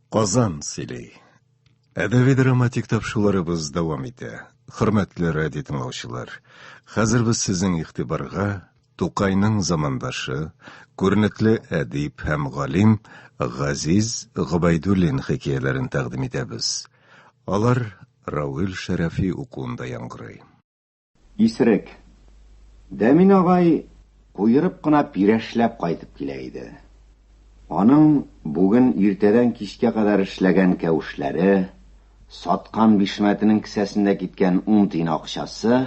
Казан сөйли. Әдәби драматик тапшуларыбыз дәвам итә. Хөрмәтле радио тыңлаучылар, хәзер без сезнең игътибарга Тукайның замандашы, күренекле әдип һәм галим Газиз Гобайдуллин хикәяләрен тәкъдим итәбез. Алар Равил Шәрәфи укуында яңгырый. Исерек. Дәмин агай куерып кына пирәшләп кайтып килә иде. Аның бүген иртәдән кичкә кадәр эшләгән кәвешләре, саткан бишмәтенең кесәсендә киткән ун тиен акчасы,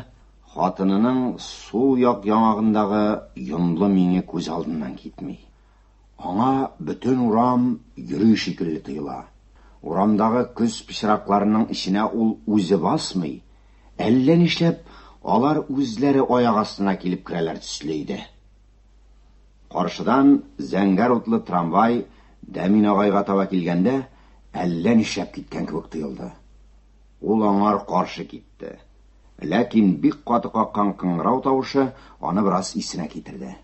хатынының сул як яңагындагы йонлы миңе күз алдыннан китми. Аңа бөтен урам йөри шикелле тоела. Урамдагы көз пычракларының эченә ул үзе басмый, әллә нишләп, алар үзләре аяк астына килеп керәләр төсле иде. Каршыдан зәңгәр утлы трамвай Дәмин агайга таба килгәндә, әллә нишләп киткән кебек тоелды. Ул аңар каршы китте. Ләкин бик каты каккан кыңгырау тавышы аны бераз исенә китерде.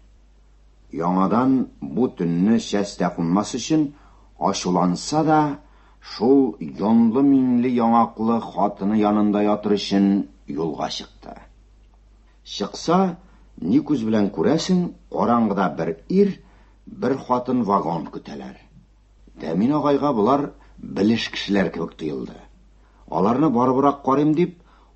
Яңадан бу төнне сәс тә кунмас өчен, ачуланса да, шул йонлы-миңле яңаклы хатыны янында ятыр өчен юлга чыкты. Чыкса, ни күз белән күрәсең, караңгыда бер ир, бер хатын вагон көтәләр. Дәмин агайга болар белеш кешеләр кебек тоелды. Аларны барыбрак карыйм дип,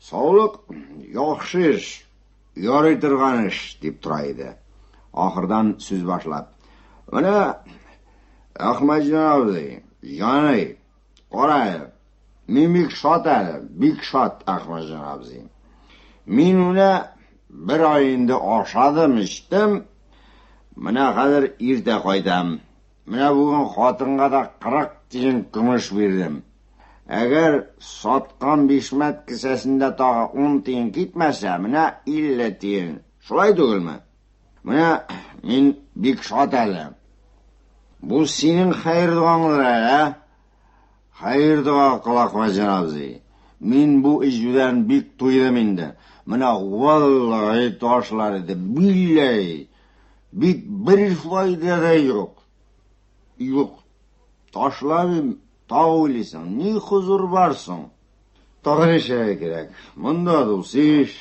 Саулык, яхшы эш, ярый торган эш, дип тора иде. Ахырдан сүз башлап. Менә Әхмәҗан абзый, яный, кара әле. Мин бик шат әле, бик шат Әхмәҗан абзый. Мин менә бер ай инде ашадым, эчтем. Менә хәзер иртә кайтам. Менә бүген хатынга да кырык тиен көмеш бирдем. Әгәр саткан бишмәт кесәсендә тагы ун тиен китмәсә, менә илле тиен. Шулай түгелме? Менә мин бик шат әле. Бу синең хәер доңаңдыр әле, ә? Хәер дога кыла Хәҗәр абзый. Мин бу иҗүдән бик туйдым инде. Менә валлаһи ташлар иде, билләһи. Бит бер файда да юк. Юк. Ташлавым тау уйлыйсың, ни хозур бар соң? Тагын эшләргә кирәк. Монда дус иш.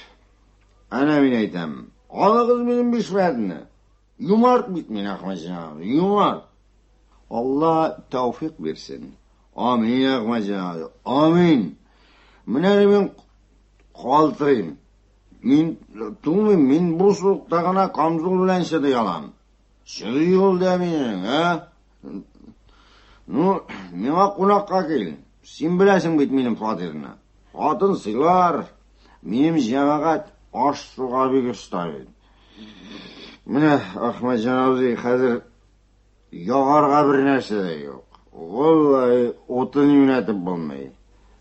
Әнә мин әйтәм. Алыгыз минем бишмәтне. Юмарт бит мин Ахмаҗан, юмарт. Алла тәүфик бирсен. Амин, Ахмаҗан, амин. Менә мин калтырыйм. Мин тумыйм, мин бу суыкта гына камзул белән чыдый алам. Чыдый ул да минең, ә? Ну, миңа кунакка кил. Син беләсең бит минем фатирны. Хатын сыйлар, минем җәмәгать аш суга бик оста бит. Менә Ахмаджан абзый хәзер Ягарга бер нәрсә дә юк. Валлаһи, утын юнәтеп булмый.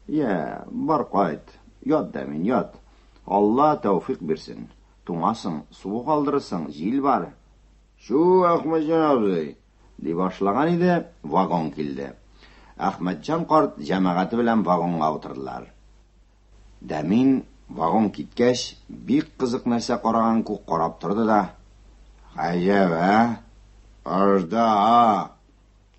Я, бар кайт. Ят да мин, ят. Алла тәүфик бирсен. Туңасың, суы калдырырсың, җил бар. Чу, Әхмәтҗан абзый, ди башлаган иде, вагон килде. Әхмәтҗан карт җәмәгате белән вагонга утырдылар. Да мин, вагон киткәч, бик кызык нәрсә караган күк карап торды да, Гаҗәп, ә? Аждаһа!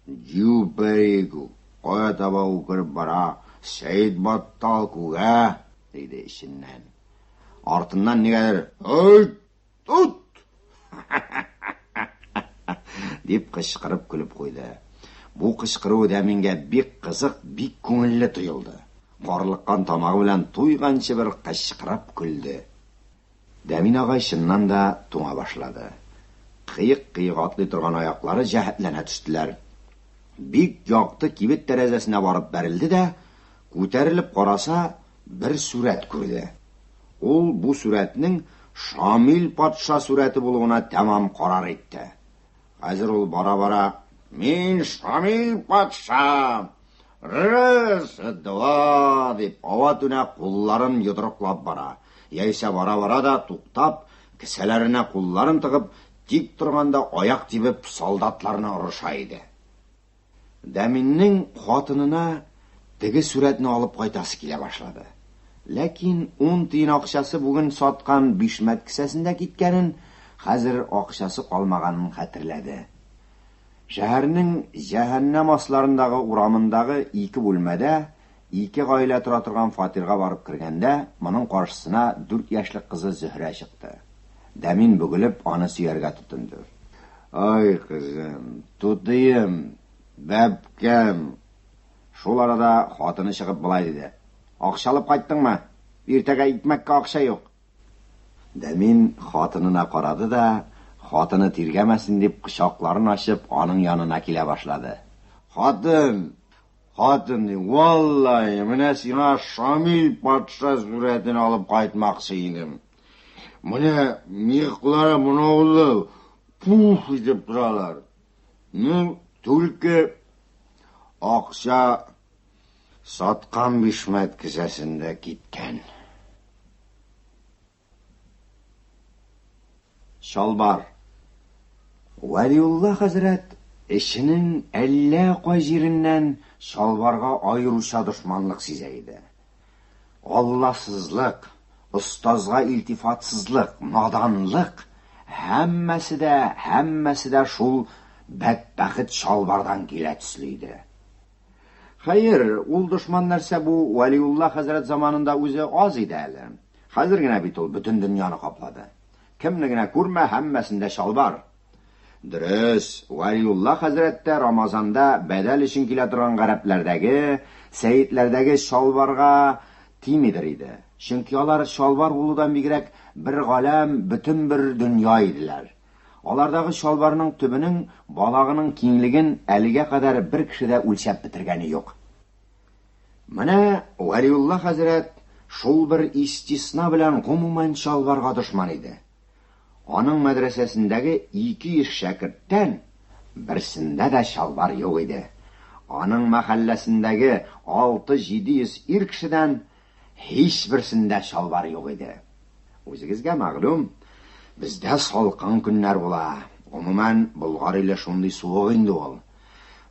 Дю перику! Кая таба үкереп бара, Сәетбаттал күк, ә? диде эченнән. Артыннан нигәдер, Һөйт! Тот! Дип кычкырып көлеп куйды. Бу кычкыруы да миңгә бик кызык, бик күңелле тоелды. Карлыккан тамагы белән туйганчы бер кычкырып көлде. Дәмин агай чыннан да туңа башлады. Кыек-кыек атлый торган аяклары җәһәтләнә төштеләр. Бик якты кибет тәрәзәсенә барып бәрелде дә, күтәрелеп караса, бер сурәт күрде. Ул бу сурәтнең Шамил патша сурәте булуына тәмам карар итте. Хәзер ул бара-бара, Мин Шамил патша! Рыс, два! дип, ава-түнә кулларын йодрыклап бара, яисә бара-бара да, туктап, кесәләренә кулларын тыгып, тик торганда аяк тибеп, солдатларны орыша иде. Дәминнең хатынына теге сурәтне алып кайтасы килә башлады. Ләкин ун тиен акчасы бүген саткан бишмәт кесәсендә киткәнен, хәзер акчасы калмаганын хәтерләде. Шәһәрнең җәһәннәм асларындагы урамындагы ике бүлмәдә Ике гаилә тора торган фатирга барып кергәндә, моның каршысына дүрт яшьлек кызы Зөһрә чыкты. Дәмин бөгелеп, аны сөяргә тотынды. Ай, кызым, тутыем, бәбкәм! Шул арада хатыны чыгып болай диде. Акча алып кайттыңмы? Иртәгә икмәккә акча юк! Дәмин хатынына карады да, хатыны тиргәмәсен дип, кочакларын ачып, аның янына килә башлады. Хатын! Хатын, ди, валлаһи, менә сиңа Шамил патша сурәтен алып кайтмакчы идем. Менә мыеклары монаулы, пуф итеп торалар. Ну, түлке акча саткан бишмәт кесәсендә киткән. Чалбар. Вәлиулла хәзрәт эченең әллә кай җиреннән чалбарга аеруча дошманлык сизә иде. Алласызлык, остазга илтифатсызлык, наданлык, һәммәсе дә, һәммәсе дә шул бәдбәхет чалбардан килә төсле иде. Хәер, ул дошман нәрсә бу, Вәлиулла хәзрәт заманында үзе аз иде әле. Хәзер генә бит ул бөтен дөньяны каплады. Кемне генә күрмә, һәммәсендә чалбар. Дөрес, Вәлиулла хәзрәт тә Рамазанда бәдәл өчен килә торган гарәпләрдәге, сәетләрдәге чалбарга тимидер иде. Чөнки алар чалбар булудан бигрәк бер галәм, бөтен бер дөнья иделәр. Алардагы чалбарның төбенең балагының киңлеген әлегә кадәр бер кеше дә үлчәп бетергәне юк. Менә Вәлиулла хәзрәт шул бер истисна белән гомумән чалбарга дошман иде. Аның мәдрәсәсендәге 200 шәкерттән берсендә дә чалбар юк иде. Аның мәхәлләсендәге 6-700 ир кешедән Һичберсендә чалбар юк иде. Үзегезгә мәгълүм, бездә салкын көннәр була. Гомумән, Болгар иле шундый суык инде ул.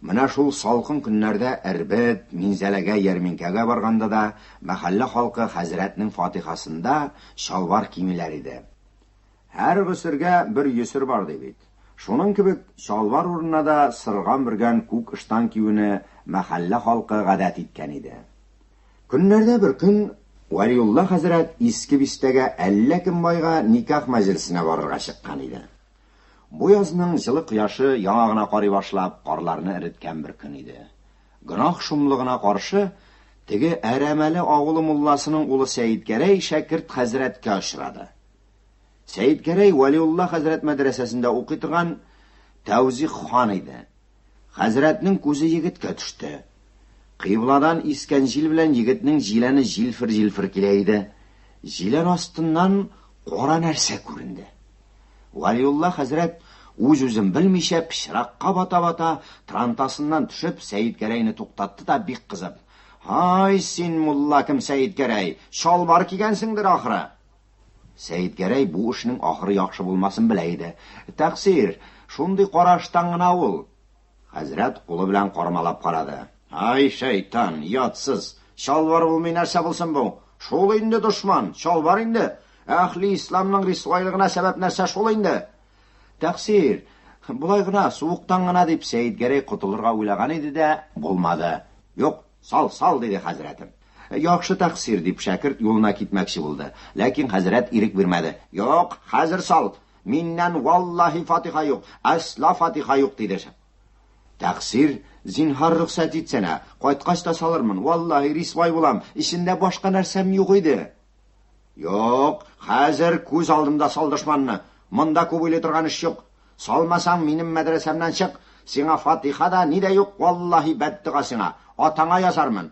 Менә шул салкын көннәрдә Эрбет, Минзәләгә ярминкәгә барганда да мәхәллә халкы хәзрәтнең фатихасында чалбар кимиләр иде. Һәр госергә бер йөсер бар ди бит. Шуның кебек, чалбар урынына да сырган-бөргән күк ыштан киюне мәхәллә халкы гадәт иткән иде. Көннәрдә бер көн Вәлиулла хәзрәт Иске Бистәгә әллә кем байга никах мәҗлесенә барырга чыккан иде. Бу язның җылы кояшы яңа гына карый башлап, карларны эреткән бер көн иде. Гөнаһ шомлыгына каршы, теге Әрәмәле авылы мулласының улы Сәетгәрәй шәкерт хәзрәткә очрады. Сәетгәрәй Вәлиулла хәзрәт мәдрәсәсендә укый торган Тәүзих хан иде. Хәзрәтнең күзе егеткә төште. Кыйбладан искән җил белән егетнең җиләне җилфер-җилфер килә иде. Җилән астыннан кара нәрсә күренде. Вәлиулла хәзрәт, үз-үзен белмичә, пычракка бата-бата, трантасыннан төшеп, Сәетгәрәйне туктатты да, бик кызып, Һай, син, мулла кем Сәетгәрәй, чалбар кигәнсеңдер, ахры? Сәетгәрәй бу эшнең ахыры яхшы булмасын белә иде. Тәкъсир, шундый караштан гына ул. Хәзрәт кулы белән кармалап карады. Ай, шәйтан, ятсыз! Чалбар булмый нәрсә булсын бу? Шул инде дошман, чалбар инде! Әхли исламның рисвайлыгына сәбәп нәрсә шул инде! Тәкъсир, болай гына, суыктан гына, дип Сәетгәрәй котылырга уйлаган иде дә, булмады. Юк, Сал, сал, диде хәзрәтем. Яхшы тәкъсир, дип шәкерт юлына китмәкче булды. Ләкин хәзрәт ирек бирмәде. Юк, хәзер сал. Миннән валлаһи фатиха юк, әсла фатиха юк, диде. Тәкъсир, зинһар рөхсәт итсәнә, кайткач та салырмын, валлаһи рисвай булам, эчендә башка нәрсәм юк иде. Юк, хәзер күз алдымда сал дошманны. Монда күп уйлый торган эш юк. Салмасаң, минем мәдрәсәмнән чык. Сиңа фатиха да, ни дә юк, валлаһи бәддога сиңа. Атаңа язармын.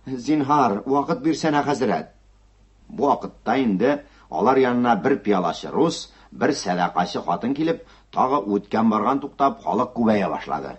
Зинһар, вакыт бирсәнә, хәзрәт. Бу вакытта инде алар янына бер пиалачы рус, бер сәдакачы хатын килеп, тагы үткән-барган туктап, халык күбәя башлады.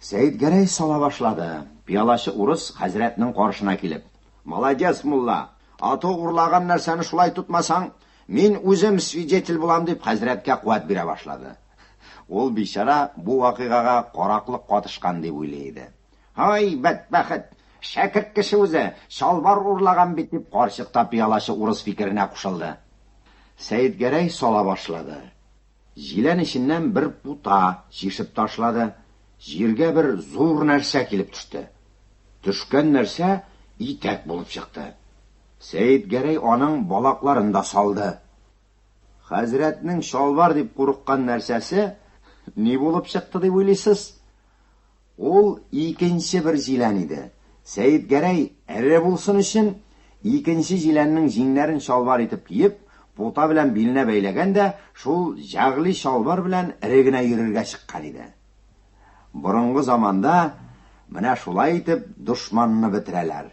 Сәетгәрәй сала башлады. Пиалачы урыс хәзрәтнең каршына килеп. Молодец, мулла! Ату урлаган нәрсәне шулай тотмасаң, мин үзем свидетель булам, дип хәзрәткә куәт бирә башлады. Ул бичара бу вакыйгага караклык катышкан дип уйлый иде. Һай, бәдбәхет! Шәкерт кеше үзе, чалбар урлаган бит, дип карчык та пиалачы урыс фикеренә кушылды. Сәетгәрәй сала башлады. Җилән эченнән бер пута чишеп ташлады. Җиргә бер зур нәрсә килеп төште. Төшкән нәрсә итәк булып чыкты. Сәетгәрәй аның балакларын да салды. Хәзрәтнең чалбар дип курыккан нәрсәсе ни булып чыкты дип уйлыйсыз? Ул икенче бер җилән иде. Сәетгәрәй, эре булсын өчен, икенче җиләннең җиңнәрен чалбар итеп киеп, пута белән биленә бәйләгән дә шул җәгъле чалбар белән эре генә йөрергә чыккан иде. Борынгы заманда менә шулай итеп дошманны бетерәләр.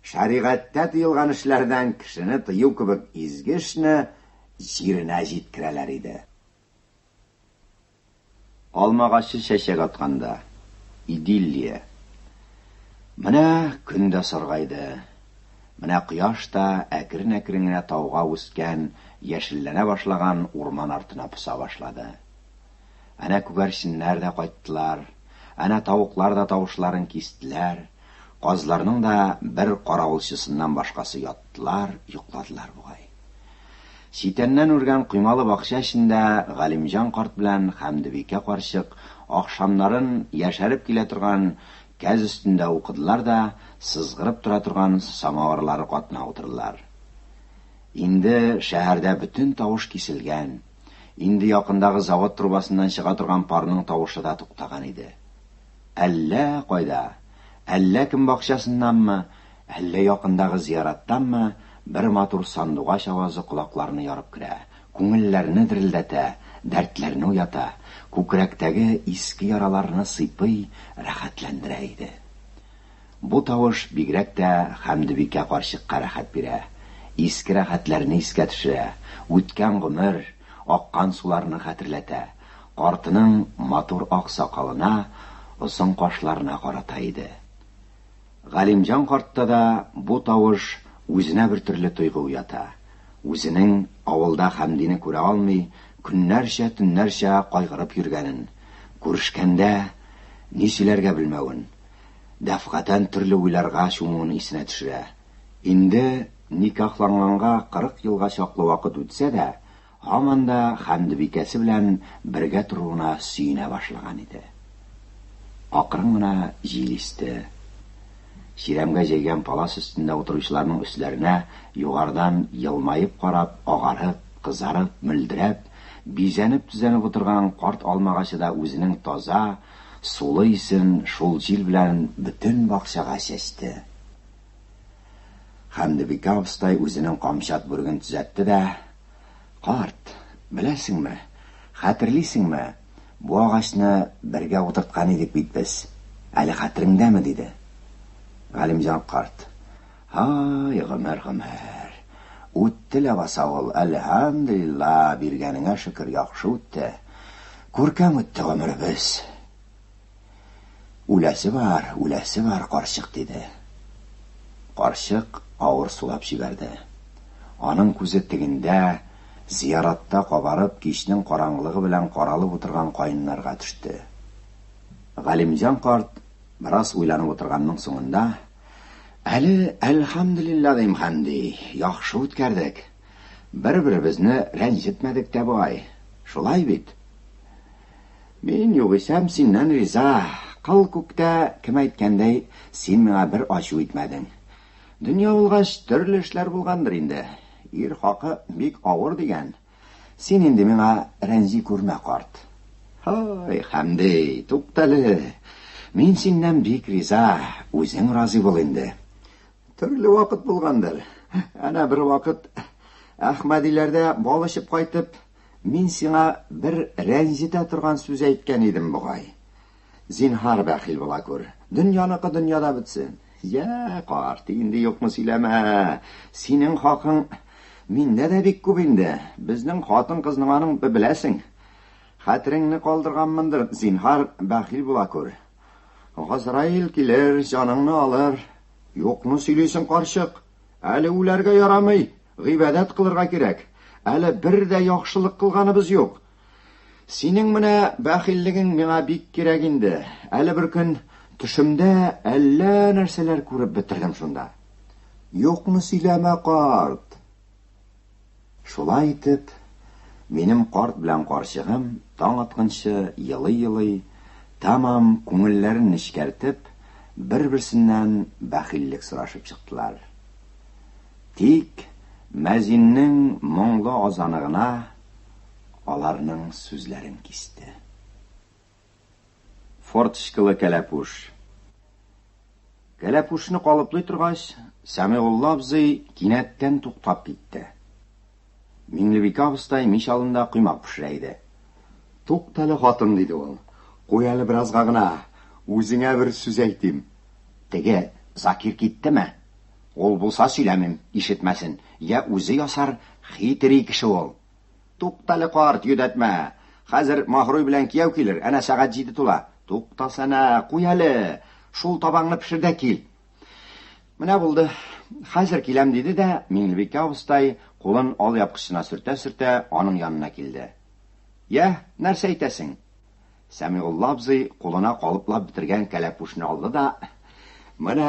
Шәригатьтә тыелган эшләрдән кешене тыю кебек изге эшне җиренә җиткерәләр иде. Алма агачы чәчәк атканда. Идиллия. Менә көн дә саргайды. Менә кояш та әкрен-әкрен генә тауга үскән, яшелләнә башлаган урман артына поса башлады. Әнә күгәрченнәр дә кайттылар, әнә тавыклар да тавышларын кистеләр, казларның да бер каравылчысыннан башкасы яттылар, йокладылар бугай. Читәннән үргән коймалы бакча эчендә Галимҗан карт белән Хәмдебикә карчык ахшамнарын яшәреп килә торган кәз өстендә укыдылар да сызгырып тора торган самавырлары катына утырдылар. Инде шәһәрдә бөтен тавыш киселгән, инде якындагы завод трубасыннан чыга торган парның тавышы да туктаган иде. Әллә кайда, әллә кем бакчасыннанмы, әллә якындагы зияраттанмы бер матур сандугач авазы колакларны ярып керә, күңелләрне дерелдәтә, дәртләрне уята, күкрәктәге иске яраларны сыйпый, рәхәтләндерә иде. Бу тавыш бигрәк тә Хәмдебикә карчыкка рәхәт бирә, иске рәхәтләрне искә төшерә, үткән гомер, аккан суларны хәтерләтә. Картның матур ак сакалына, озын кашларына карата иде. Галимҗан картта да бу тавыш үзенә бер төрле тойгы уята. Үзенең авылда Хәмдине күрә алмый, көннәрчә, төннәрчә кайгырып йөргәнен, күрешкәндә ни сөйләргә белмәвен, дәфгатән төрле уйларга чумуын исенә төшерә. Инде никахланганга кырык елга чаклы вакыт үтсә дә, Һаман да Хәмдебикәсе белән бергә торуына сөенә башлаган иде. Акрын гына җил исте. Чирәмгә җәйгән палас өстендә утыручыларның өсләренә югарыдан елмаеп карап, агарып, кызарып, мөлдерәп, бизәнеп-төзәнеп утырган карт алмагачы да үзенең таза, сулы исен шул җил белән бөтен бакчага чәчте. Хәмдебикә абыстай үзенең камчат бүреген төзәтте дә, Карт, беләсеңме, хәтерлисеңме, бу агачны бергә утырткан идек бит без, әле хәтереңдәме? диде. Галимҗан карт, Һай, гомер, гомер. Үтте ләбаса ул, әлһәмдүлиллаһ, биргәнеңә шөкер, яхшы үтте. Күркәм үтте гомеребез. Үләсе бар, үләсе бар, карчык, диде. Карчык авыр сулап җибәрде. Аның күзе тегендә, зияратта кабарып, кичнең караңгылыгы белән каралып утырган каеннарга төште. Галимҗан карт бераз уйланып утырганның соңында, Әле, әлхәмдүлилләһ, дим, хәнди, яхшы үткәрдек. Бер-беребезне рәнҗетмәдек тә бай. Шулай бит? Мин, югыйсәм, синнән риза. Кыл күктә, кем әйткәндәй, син миңа бер ачу итмәдең. Дөнья булгач, төрле эшләр булгандыр инде. Ир хакы бик авыр дигән. Син инде миңа рәнҗи күрмә, карт. Һай, Хәмди, туктале. Мин синнән бик риза, үзең разый бул инде. Төрле вакыт булгандыр. Әнә бер вакыт Әхмәдиләрдә бал эчеп кайтып, Мин сиңа бер рәнҗетә торган сүз әйткән идем бугай. Зинһар, бәхил була күр. Дөньяныкы дөньяда бетсен. Йә, карт, инде юкны сөйләмә. Синең хакың миндә дә бик күп инде. Безнең хатын-кызның аның беләсең. Хәтереңне калдырганмындыр, зинһар, бәхил була күр. Газраил килер, җаныңны алыр. Юкны сөйлисең, карчык. Әле үләргә ярамый, гыйбадәт кылырга кирәк. Әле бер дә яхшылык кылганыбыз юк. Синең менә бәхиллегең миңа бик кирәк инде. Әле бер көн төшемдә әллә нәрсәләр күреп бетердем шунда. Юкны сөйләмә, карт. Шулай итеп, минем карт белән карчыгым таң атканчы елый-елый, тәмам күңелләрен нечкәртеп, бер-берсеннән бәхиллек сорашып чыктылар. Тик мәзиннең моңлы азаны гына аларның сүзләрен кисте. Форточкалы кәләпүш. Кәләпүшне калыплый торгач, Сәмигулла абзый кинәттән туктап китте. Миңлебикә абыстай мич алында коймак пешерә иде. Туктале хатын, диде ул. Куй әле беразга гына, үзеңә бер сүз әйтим. Теге Закир киттеме? Ул булса сөйләмим, ишетмәсен. Я үзе ясар, хитрий кеше ул. Туктале, карт, йөдәтмә. Хәзер Маһруй белән кияү килер, әнә сәгать җиде тула. Туктасәнә, куй әле. Шул табаңны пешер дә кил. Менә булды. Хәзер киләм, диде дә, Миңлебикә абыстай, кулын ал япкычына сөртә-сөртә, аның янына килде. Йә, нәрсә әйтәсең? Сәмигулла абзый кулына калыплап бетергән кәләпүшне алды да, Менә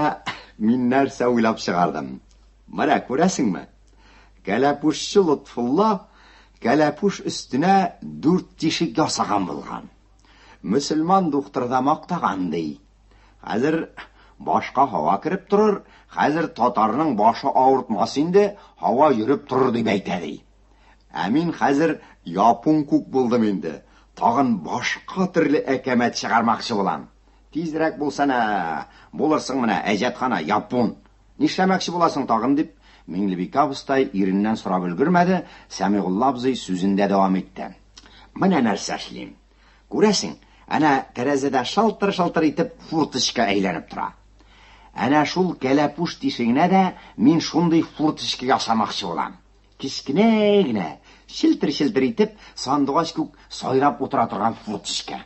мин нәрсә уйлап чыгардым. Менә, күрәсеңме? Кәләпүшче Лотфулла кәләпүш өстенә дүрт тишек ясаган булган. Мөселман духтыры да мактаган ди. Хәзер башка һава кереп торыр, хәзер татарның башы авыртмас инде, һава йөреп торыр дип әйтә ди. Ә мин хәзер япун күк булдым инде. Тагын башка төрле әкәмәт чыгармакчы булам. Тизрәк булсана, булырсың менә әҗәтхана япун. Нишләмәкче буласың тагын? дип, Миңлебикә абыстай иреннән сорап өлгермәде, Сәмигулла абзый сүзен дә дәвам итте. Менә нәрсә эшлим. Күрәсең, әнә тәрәзәдә шылтыр-шылтыр итеп фурточка әйләнеп тора. Әнә шул кәләпүш тишегенә дә мин шундый фурточка ясамакчы булам. Кечкенә генә, челтер-челтер итеп, сандугач күк сайрап утыра торган фурточка.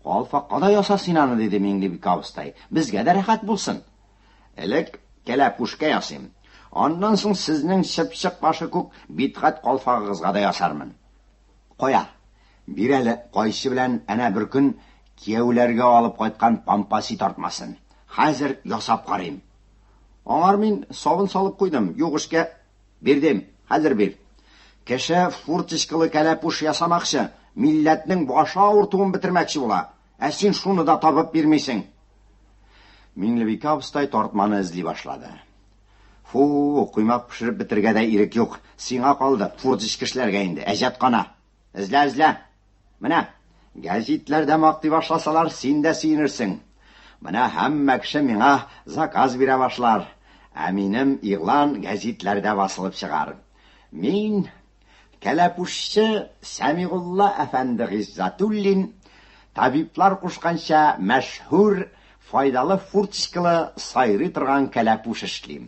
Калфакка да яса син аны, диде Миңлебик абыстай. Безгә дә рәхәт булсын. Элек кәләпүшкә ясыйм. Аннан соң сезнең чыпчык башы күк Битгать калфагыгызга да ясармын. Кая? Бир әле, кайчы белән әнә беркөн кияүләргә алып кайткан пампаси тартмасын. Хәзер ясап карыйм. Аңар мин сабын салып куйдым, юк эшкә. Бирдем, хәзер бир. Кеше фурточкалы кәләпүш ясамакчы, милләтнең башы авыртуын бетермәкче була. Ә син шуны да табып бирмисең. Миңлебикә абыстай тартманы эзли башлады. Фу, коймак пешереп бетергә дә ирек юк. Сиңа калды, фурт эчкешләргә инде, әҗәт кана. Эзлә, эзлә. Менә, гәзитләрдә мактый башласалар, син дә сөенерсең. Менә һәммә кеше миңа заказ бирә башлар. Ә минем игълан гәзитләрдә басылып чыгар. Мин Кәләпүшче Сәмигулла әфәнде Гыйззәтуллин, табиблар кушканча, мәшһүр, файдалы фурцкалы сайрый торган кәләпүш эшлим.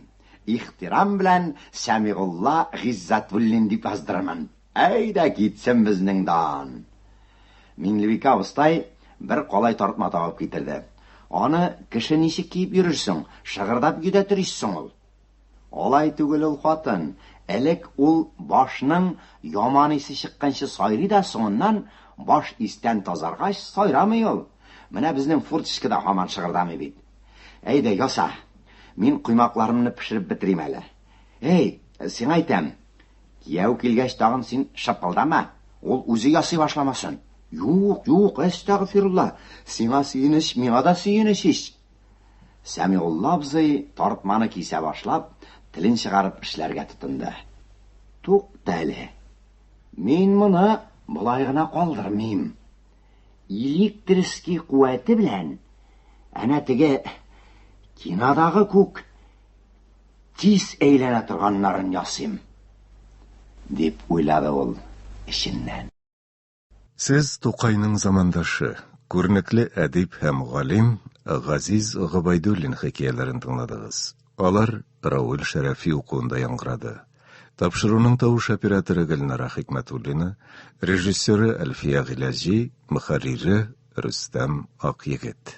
Ихтирам белән Сәмигулла Гыйззәтуллин дип яздырырмын. Әйдә китсен безнең дан! Миңлебикә абыстай бер калай тартма табып китерде. Аны кеше ничек киеп йөрер соң, шыгырдап йөдәтер ич соң ул? Алай түгел ул хатын, элек ул башның яман исе чыкканчы сайрый да соңыннан баш истән тазаргач сайрамый ул. Менә безнең фуртчка да һаман шыгырдамый бит. Әйдә, яса. Мин коймакларымны пешереп бетерим әле. Әй, сиңа әйтәм, кияү килгәч тагын син шыпылдама, ул үзе ясый башламасын. Юк, юк, әстәгъфирулла. Сиңа сөенеч, миңа да сөенеч ич. Сәмигулла абзый, тартманы кисә башлап, телен чыгарып эшләргә тотынды. Тукта әле. Мин моны болай гына калдырмыйм. Электрский куәте белән әнә теге кинодагы күк тиз әйләнә торганнарын ясыйм, дип уйлады ул эченнән. Сез Тукайның замандашы, күренекле әдип һәм галим Газиз Гобәйдуллин хикәяләрен тыңладыгыз. Алар Равил Шәрәфи укуында яңгырады. Тапшыруның тавыш операторы Гөлнара Хикмәтуллина, режиссеры Әлфия Гыйләҗи, мөхәррире Рөстәм Акъегет.